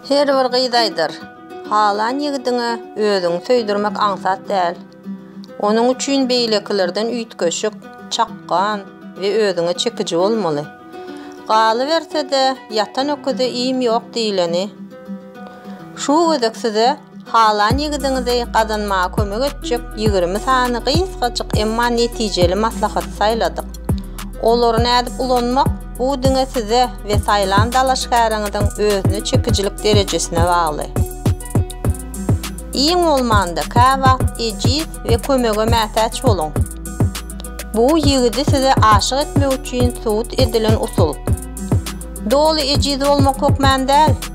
Her bir gyz aýdar, Halan ýigidiňe özüňi söýdürmek aňsat däl. Onuň üçin beýlekilerden üýtgeşik, çakgan we özüňe çekiji bolmaly. Galyberse-de, ýatan öküze iým ýok diýleni. Şu gezek size Halan ýigidiňizi gazanmaga kömek etjek ýigrimi sany gysgajyk, emma netijeli maslahaty saýladyk. Olary nädip ulanmak, bu diňe size we saýlan dalaşgäriňiziň özüne çekijilik derejesine bagly. Iň bolmanda, käwagt ejiz we kömege mätäç boluň. Bu ýigidi size aşyk etmek üçin subut edilen usul. Doly ejiz bolmak hökmän däl.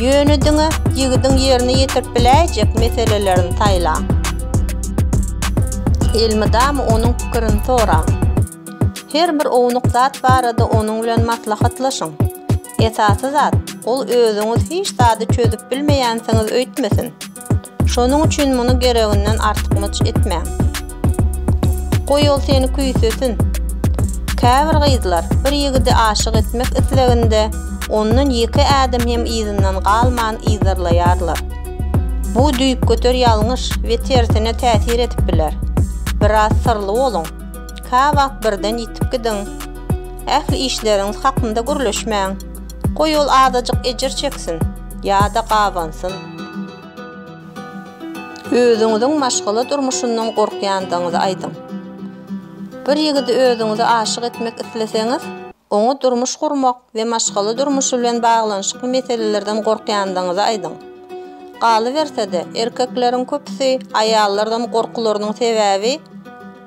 Ýöne diňe ýigidiň ýerine ýetirip biläýjek meselelerini saýlaň. Elmydama onuň pikirini soraň. Her bir ownuk zat barada onuň bilen maslahatlaşyň. Esasy zat, ol özüňiz hiç zady çözüp bilmeýänsiňiz öýtmesin. Şonuň üçin muny gereginden artykmaç etmäň. Goý ol seni küýsesin. Käbir gyzlar bir ýigidi aşyk etmek isleginde ondan ýeke ädim hem yzyndan galman yzarlaýarlar. Bu düýpgöter ýalňyş we tersine täsir edip biler. Biraz syrly boluň. Käwagt birden ýitip gidiň. Ähli işleriňiz hakynda gürleşmäň. Goý ol azajyk ejir çeksin ýa-da gabansyn. Özüňiziň maşgala durmuşyndan gorkýandygyňyzy aýdyň. Bir ýigidi özüňize aşyk etmek isleseňiz, oňa durmuş gurmak we maşgala durmuşy bilen baglanyşykly meselelerden gorkýandygyňyzy aýdyň. Galyberse-de, erkekleriň köpüsi aýallardan gorkularynyň sebäbi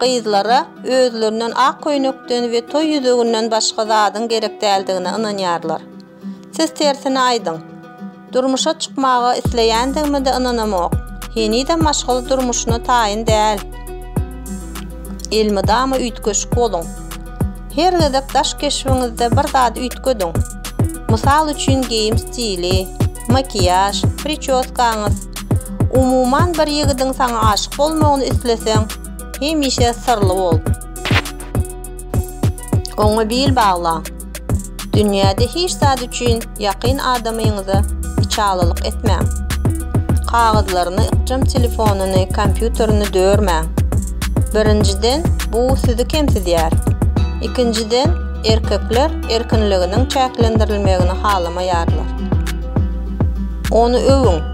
gyzlara özlerinden ak köýnekden we toý ýüzüginden başga zadyň gerek däldigine ynanýarlar. Siz tersine aýdyň. Durmuşa çykmaga isleýändigime-de ynanamok. Henizem maşgala durmuşyna taýyn däl. Elmydama üýtgeşik boluň. Her gezek daş keşbiňizde bir zady üýtgediň. Mysal üçin geýim stili, makiýaž, pričoskaňyz. Umuman bir ýigidiň saňa aşyk bolmagyny isleseň, hemişe syrly bol. Oňa bil bagla. Dünýäde hiç zat üçin ýakyn adamyňyza içalylyk etmäň. Kagyzlaryny, ykjam telefonyny, kompýuterini dörmäň. Birinjiden, bu sizi kemsidýär. Ikinjiden, erkekler erkinliginiň çäklendirilmegini halamaýarlar. Ony öwüň.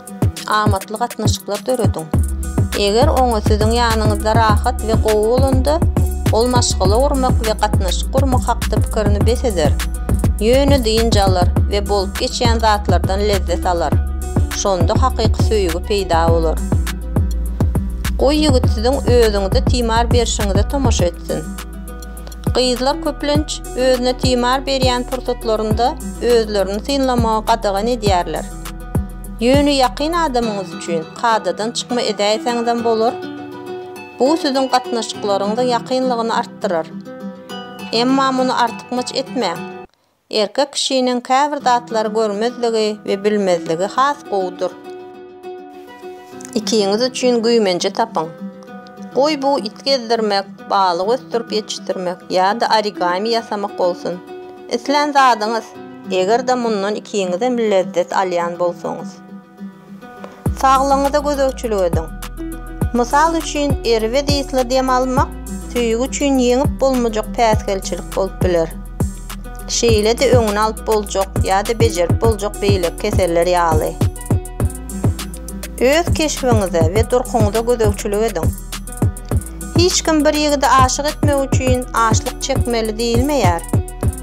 Amatly gatnaşyklar dörediň. Eger oňa siziň ýanyňyzda rahat we gowy bolanda, ol maşgala gurmak we gatnaşyk gurmak hakda pikirini bes eder, ýöne dynç alar we bolup geçýän zatlardan lezzet alar. Şonda hakyky söýgi peýda bolar. Goý ýigit siziň özüňize timar berişiňize tomaşa etsin. Gyzlar köplenç özüne timar berýän pursatlarynda özlerini synlamagy gadagan edýärler. Ýöne ýakyn adamyňyz üçin kadadan çykma edäýseňizem bolar. Bu siziň gatnaşyklaryňyzyň ýakynlygyny artdyrar. Emma muny artykmaç etmäň. Erkek kişiniň käbir zatlary görmezligi we bilmezligi has gowudyr. Ikiňiz üçin güýmenje tapyň. Goý bu it gezdirmek, balyk ösdürip ýetişdirmek ýa-da origami ýasamak bolsun. Islän zadyňyz! Eger-de mundan ikiňizem lezzet alýan bolsaňyz. Saglygyňyza gözegçilik ediň. Mysal üçin, erbet ysly dem almak söýgi üçin ýeňip bolmajak päsgelçilik bolup biler. Şeýle-de öňüni alyp boljak ýa-da bejerip boljak beýleki keseller ýaly. Öz keşbiňize we durkuňyza gözegçilik ediň. Hiç kim bir ýigidi aşyk etmek üçin açlyk çekmeli diýilmeýär.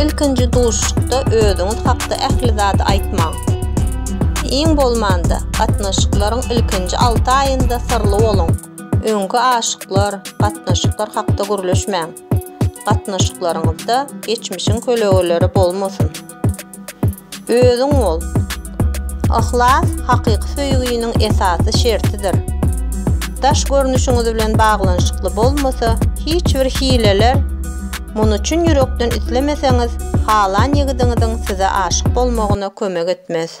Ilkinji duşuşykda özüňiz hakda ähli zady aýtmaň. Iň bolmanda, gatnaşyklaryň ilkinji alty aýynda syrly boluň. Öňki aşyklar, gatnaşyklar hakda gürleşmäň. Gatnaşyklaryňyzda geçmişiň kölegeleri bolmasyn. Özüň bol. Yhlas hakyky söýginiň esasy şertidir. Daş görnüşiňiz bilen baglanyşykly bolmasa, hiç bir hileler muny çyn ýürekden islemeseňiz, halan ýigidiňiziň size aşyk bolmagyna kömek etmez.